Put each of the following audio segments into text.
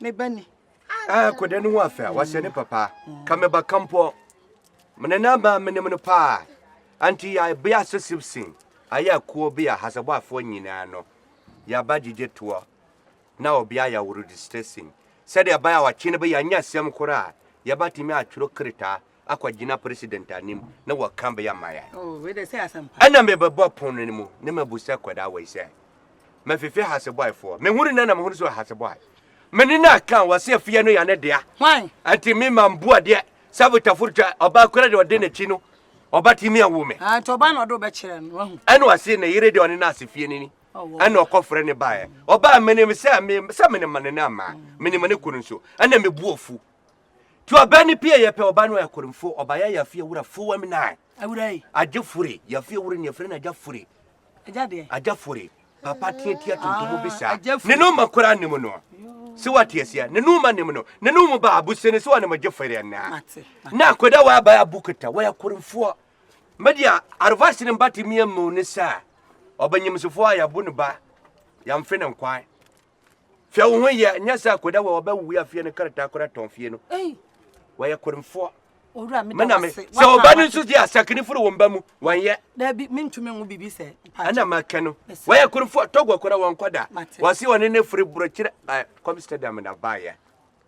me ba ni. Ah, akwadaa no ho afɛ a wahyɛ ne papa ka me ba kampɔ mene na ba menem no paa anti yɛ bea sesib sin ayɛ akuo bi a hasɛbɔafoɔ nyinaa no yɛaba gyegye toɔ na obi ayɛ aworo distressing sɛdeɛ ɛbɛyɛ a ɔkye no bɛyɛ anya asɛm koraa yɛbatumi atwerɛ kretaa akɔgyina president anim na wɔka bɛyɛ ama yɛn. Oh, wei dɛ sɛ asɛmpa. Ɛna mebɛbɔ pon no mu na mabusa kwadaa wei sɛ, mafifi hasebɔefoɔ. Mehunu no na mehunu sɛ ɔyɛ hasebɔe. Mene no aka a wɔse afie no yɛ ne dea. Hwan? Nti me ma mbu adeɛ sɛ botaforo twa ɔbaa kora deɛ ɔde n'akyi no ɔba tumi awo me. Ah, nti ɔbaa na ɔde wobɛkyerɛ no wahu. Ɛna ɔse ne yere deɛ ɔne no ase fie no ni. Ɛna ɔkɔfrɛ ne baeɛ. Ɔbaa menim sɛ me sɛ menim ne no amaa. Menim ne kunu nso. Ɛna mebu afu. ti ɔbɛ ne pie yɛpɛ ɔba no ɛkoremfo ɔba yɛ yɛafi awura fowam nan awura yi agye fure yɛafi awura ne yɛfrɛ no agya fure agya deɛ agya fure papa teatia tuntum bi saa ne no ma kora ne mu no sɛ wate aseɛ ne no ma ne mu no ne no mu ba abusɛ ne sɛ wɔne mo gye fere naa na akoda wɔ aba abukota wɔyɛ akoremfoɔ media arvas ne mba te mmiɛ mu ne saa ɔbɛnyimsifoɔ a yɛbo ne ba yɛmfe ne nkwan Hwɛ wo ho yɛ nyɛ sɛ akoda wɔ ɔbɛ wuya fie no krataa kora tɔn fie no. Wɔyɛ koremfoɔ. Mena me sɛ ɔba no nso di asakene foro wɔn ba mu wɔnyɛ. Dabi mentumi nwo biribi sɛ. Ɛna makɛ no wɔyɛ koremfoɔ tɔgɔ kora wɔn kɔda. Wɔse wɔne ne firi borokyerɛ Amsterdam na baayɛ.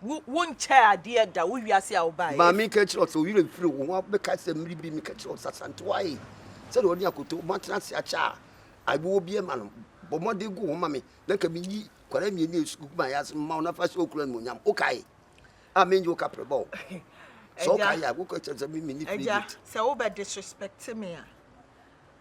Wo, wonkyɛɛ adeɛ da wo wiase a wobaeɛ. Maame nka kyerɛ wo sɛ wo werɛ mfiri wo ho a wobɛkae sɛ mmere bi meka kyerɛ wo sɛ Asantewa ee, sɛdeɛ ɔne akoto moatena ase akyɛ a, ae wowɔ bi ma no, bɔ mmɔden gu wo ho ma me na nka meyi nkwadaa mmienu a sukuu gu ma yɛ ase mma wo na fa hyɛ wo kunu animuonyam. Wokae? A mennye wo kaprɛbɔ o. Sɛ wokae a, woka kyerɛ sɛ me menni credit. Agya, sɛ wobɛdisrespect me a.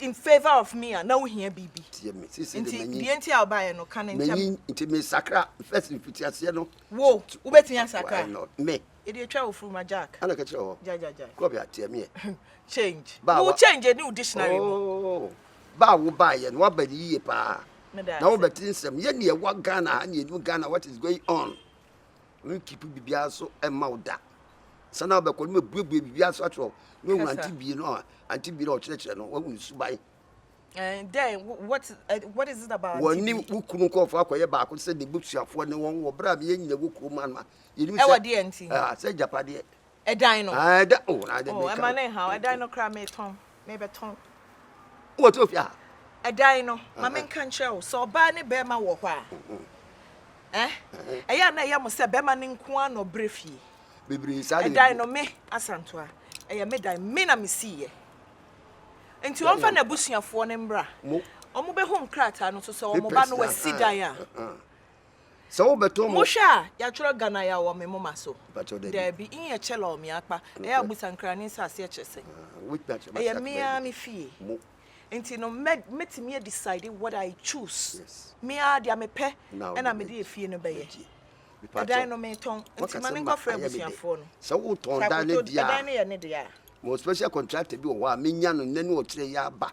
in favour of me a na wohia biribi tie me sisi de nti manyin deɛ nti a wobaeɛ no ka no nkyɛm manyin nti mesakra first mfiti aseɛ no wo t- t- wobɛtumi why asakra not me ɛde atwa wo furuma jack ana ka kyerɛ hɔ gyagyagya kɔ bia tie meɛ change Ba, wo wa- change ɛni wo dictionary mu oh ba a wobaeɛ no woaba no yie paa meda na ase wobɛte nsɛm yɛ neɛ ɛwɔ ghana ha neɛ ɛnim ghana what is going on Worenkeep biribiara nso mma wo da. Ansa na wobɛkɔ no, mɛbuebue biribiara nso akyerɛ wo. Na wohu Auntie Bie no a, Auntie Bie no a ɔkyerɛkyerɛ no, woahu ne suban. Eh, dɛn? What, eh, what is it about Auntie Bie? Wɔne wo kunu nkurɔfoɔ akɔyɛ baako te sɛ n'abusuafoɔ ne wɔn wɔ berɛ a meyɛ nyina wɔ kurom ano a, yɛnim sɛ. Ɛwɔ deɛ nti? Ah, sɛ agyapadeɛ. Ɛdan no. Ah, ɛda o na ade meka. Ɛma ne ha ɛdan no kora metɔn mebɛtɔn. Wɔ to fia. Ɛdan no ma menka nkyerɛ wo sɛ ɔbaa ne bɛrima wɔ hɔ a. Eh? Ɛyɛ na ɛyɛ mo sɛ bɛrima ne nko ara na ɔbrɛ fie. Bebree saa de. Ɛdan no me asantoa. Ɛyɛ me dan me na mesi yɛ. Nti wɔn fa na abusuafoɔ ne mbra. Wɔn bɛhu nkrataa no so sɛ wɔn ba no wasi dan a. Sɛ wo bɛtɔ mo. Mo hwɛ a, ya twerɛ Ghana ya wɔ me moma so? Mpakyɛw dabi. Dabi, in yɛ kyɛla ɔ me akpa, ɛyɛ a busa nkrane nsaase ɛkyerɛ sɛn? Wobɛtumi akyerɛ me aseɛ. Ɛyɛ me ara me fie. Mo. Nti no mɛ, mɛtumi a decide what I choose. Yes. Me ara deɛ me pɛ ɛna me de efie no bɛyɛ. Mɛgye. Mepakyɛw. Ɛdan no me tɔn, nti ma ne nkɔ frɛ abusuafoɔ no. Sɛ wo tɔn dan no deɛ a. Sɛ akoto ɛdan no yɛ ne deɛ a. Mewɔ special contractor bi wɔ hɔ a menya no nnɛ ne ɔkyerɛ yi aba.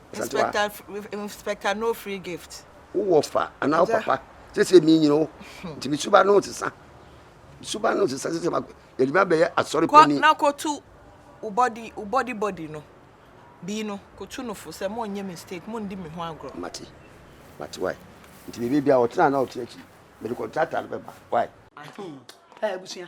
Inspector no free gift. Wo wɔ fa anaa wo papa sese mi nyina o hmm. nti mi suba no sesa mi suba no sesa sese ma yɛde mi abɛyɛ asɔre panyin. kɔ na kotu wo body wo body body no bii no kotu no fo sɛ mo nyɛ mistake mo ndi mi ho agorɔ. mate mate wae nti biribi bia ɔtena na ɔte akyi mede kɔntrata no bɛba wae. ɛɛ hmm. eh, abusua.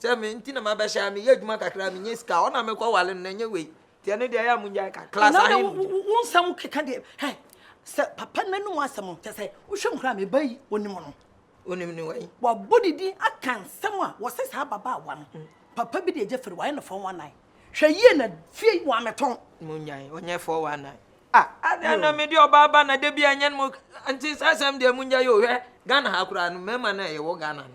sɛ me nti na mabɛhyɛ a meyɛ adwuma kakra a menya sika a ɔna mekɔwale no na ɛnyɛ wei nti ɛno deɛ ɛyɛ a mongyae ka class ahe wo nsɛm keka deɛ hɛ sɛ papa no nom asɛm kyɛ sɛ wohwɛ mu koraa meba yi ɔnim no ɔnim ne wai wabɔ ne din aka nsɛm a wɔse saa ababaawa no mm. papa bi deɛ gya firi wayɛ no fɔn wanan hwɛ yie na fie wɔametɔn monyae ɔnyɛ fɔ wanan a adeɛ na mede ɔbaa ba na da bi anyɛ no mu nti saa asɛm deɛ mongyae ɔhwɛ ghana ha koraa no mmarima no a yɛwɔ ghana no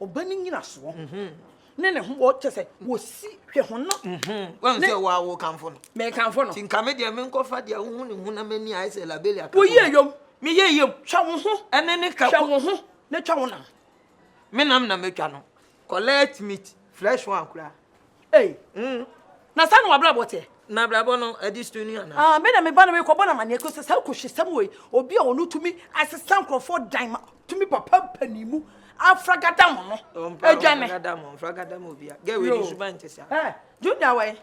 Ɔba ne nyinasoɔ ne ne ho wɔ kyɛ sɛ wɔsi hwɛ ho no. Wɔn sɛ wɔ awo kanfo no. Mɛ kanfo no. Ti nka me deɛ me nkɔfa deɛ wohu ne ho na m'ani ayɛ sɛ labeli akafo. Woyi eyom. Me yɛ eyom. Twa wo ho. Ɛne ne ka. Twa wo ho na twa wo nam. Me nam na metwa no. Collect meat, fresh one koraa. Ei, mm, na saa na w'abrabɔ teɛ? Na abrabɔ no adi so ni anaa? Ah, me na me ba no mekɔbɔ no amanneɛ kɔ sɛ saa kɔhwesɛm wei, obi a ɔno tumi asesa nkurɔfoɔ dan ma tumi papa mpanin mu afragada mo no adwane. Afragada mo, afragada mo bia. Gɛ wei ni suban te saa. Eh, Junior wei,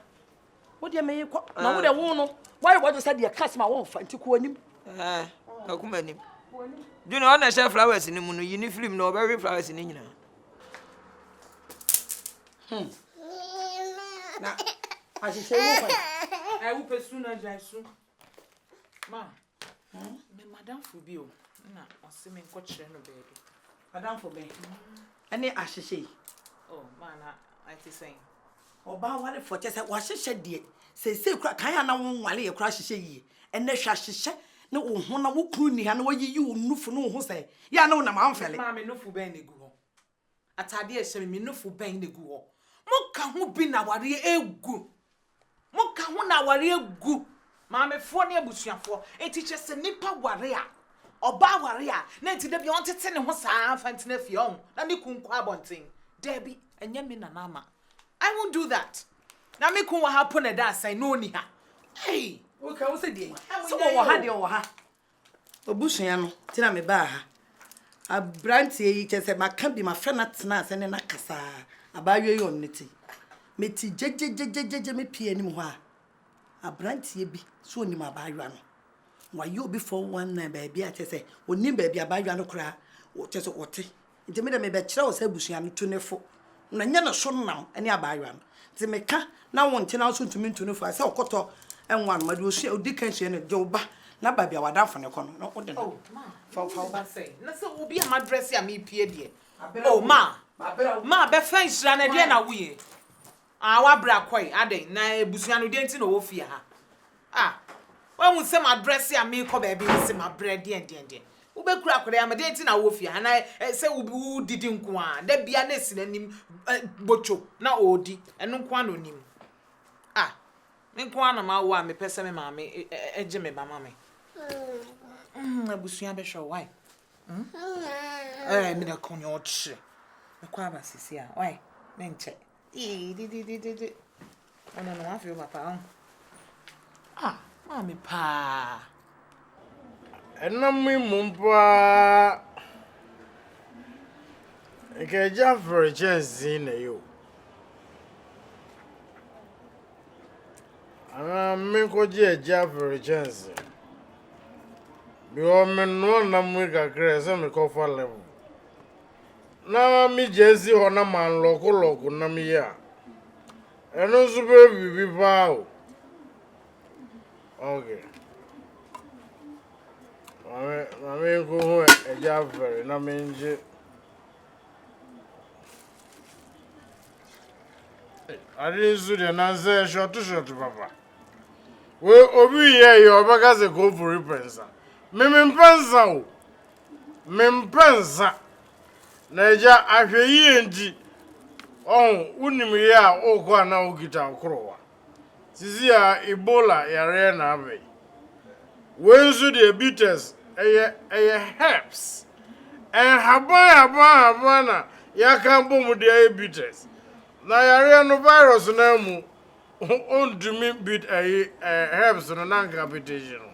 wo deɛ meye kɔ, na wo deɛ wo no, woayɛ wɔde sɛ deɛ kas ma wɔmfa nti kɔ anim. Eh, akuma anim. Junior, ɔna hyɛ flowers no mu no, yi ne firim na ɔbɛwe flowers no nyinaa. Hmm. Na ahyehyɛ wo kwan. Ẹ wo pẹ su na gya su. Ma. Hmm? Me madamfo bi o. Na ɔse me nkɔ kyerɛ no baabi. Madamfo bɛn? Ɛne hmm. ahyehyɛ yi. Oh, ma na ɛte sɛn? Ɔbaa awarefoɔ kyɛ sɛ wahyehyɛ deɛ seesei kora kan a na wo nwale yɛ kora ahyehyɛ yie ɛnɛ hwɛ ahyehyɛ ne wo ho na wo kunu nni ha na wayiyi wo nufo ne wo ho sɛ yɛ a na wonam amfɛle. Maame nufo bɛn na egu hɔ? Atade a ɛhyɛ me, me nufo bɛn na egu hɔ? Moka ho bi na awareɛ agu. Moka ho na awareɛ agu. Maamefoɔ ne abusuafoɔ. Enti kyerɛ sɛ nipa ware a, ɔbaa ware a, na enti da bi ɔntete ne ho saa mfa ntena fie ɔho, na ne kun kɔ abɔnten. Daabi, ɛnyɛ me na n'ama. I won't do that. Na me kun wɔ ha po na ɛda asɛn na ɔnni ha. Ei! Woka ho sɛ deɛn? Sɛ ɔwɔ ha deɛ ɔwɔ ha. Abusua no nti na mebaa ha. Aberanteɛ yi, kyerɛ sɛ maka bi, mafrɛ no atena ase ne no akasa ara. Abaayewa yi ɔnne te. Mete gyegye-gyegye-gyegye mepue anim hɔ a, aberanteɛ bi sɛ ɔnim abaayewa no. Wayɛ obi 419 baabi a kyerɛ sɛ ɔnnim baabi abaayewa no koraa kyerɛ sɛ ɔte. Nti me de mebɛkyerɛ wo sɛ abusua no, tu ne fo, na nyɛ ne so nam ne abaayewa no. Nti meka na wo nte na wo nso ntumi ntu ne fo a, sɛ ɔkɔtɔ ngo anoma deɛ ɔsua, ɔdi kan sua no, gye wo ba na ba bia w'adamfo no kɔ no, na wode no fa wo ba. Na sɛ obi a madrɛse a mepie deɛ, oh, ma, ma bɛfa nhyira no, ɛdeɛn na woyɛ? Ah w'abrɛ akɔe adɛn na abusua no deɛn nti na ɔwɔ fie ha ah wahu sɛ m'adrɛse a meekɔ baabi ne se m'abrɛ deɛn deɛn deɛn wobɛkura akɔda yi ama deɛn nti na wowɔ fie ha na sɛ wodidi nko a da bia na esi n'anim botwo na ɔɔdi ɛno nko a na onim ah me nko a na mawo a mepɛ sɛ me maame gye me ba ma me abusua bɛhwɛ why ɛɛ meda kɔnyɛ ɔkyerɛ mekɔ aba sisi a why menkyɛ Ee, di di di di di. Ɔno no wafe wo papa ho. Ah, maame paa. Ɛnam mi mu paa. Nka agya fere kyɛnse na yi o. Anaa menkɔgye agya fere kyɛnse. Bi wɔ menoa nam kakra sɛ mekɔfa level. na megyaa si hɔ na manlɔkolɔko nnam yi a, ɛno nso bɛyɛ biribi paa o. Ok. Maame, maame nkɔhu agya afɛre na mengye. Ade nso deɛ nansɛ shɔto shɔto papa. Wei obi yɛ yɛ ɔbɛka sɛ kɔmfori pɛnsa. Meme mpɛnsa o. Mempɛ nsa. Na agya, ahwɛyie nti, ɔho, wonim yɛ a wokɔ a na wokita wo korowa. Sisi a Ebola yareɛ na aba yi. Wei nso deɛ bitters, ɛyɛ, ɛyɛ herbs. Nhaban nhaban nhaban na yɛaka abɔ mu de ayɛ bitters. Na yareɛ no, virus no ara mu, ɔntumi bit ɛyi, ɛɛ, herbs no na anka abetehye no.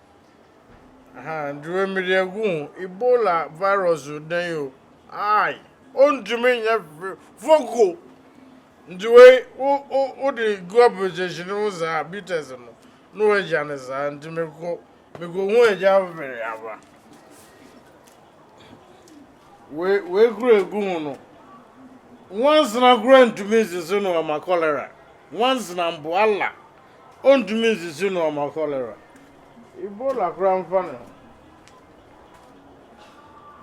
Ahaa Duro mede agu ho. Ebola virus o dɛn o aai ontumi nyɛ hwee foko nti wei wo wo wode gu application no ho saa bites no na wagya no saa nti mekɔ mekɔhu agya afoforo aba wei wei kura egu ho no nwansena kura ntumi nsese no ama cholera nwansena mpo ala ɔntumi nsisi nnoɔma cholera. Ebola koraa mfa ne ho.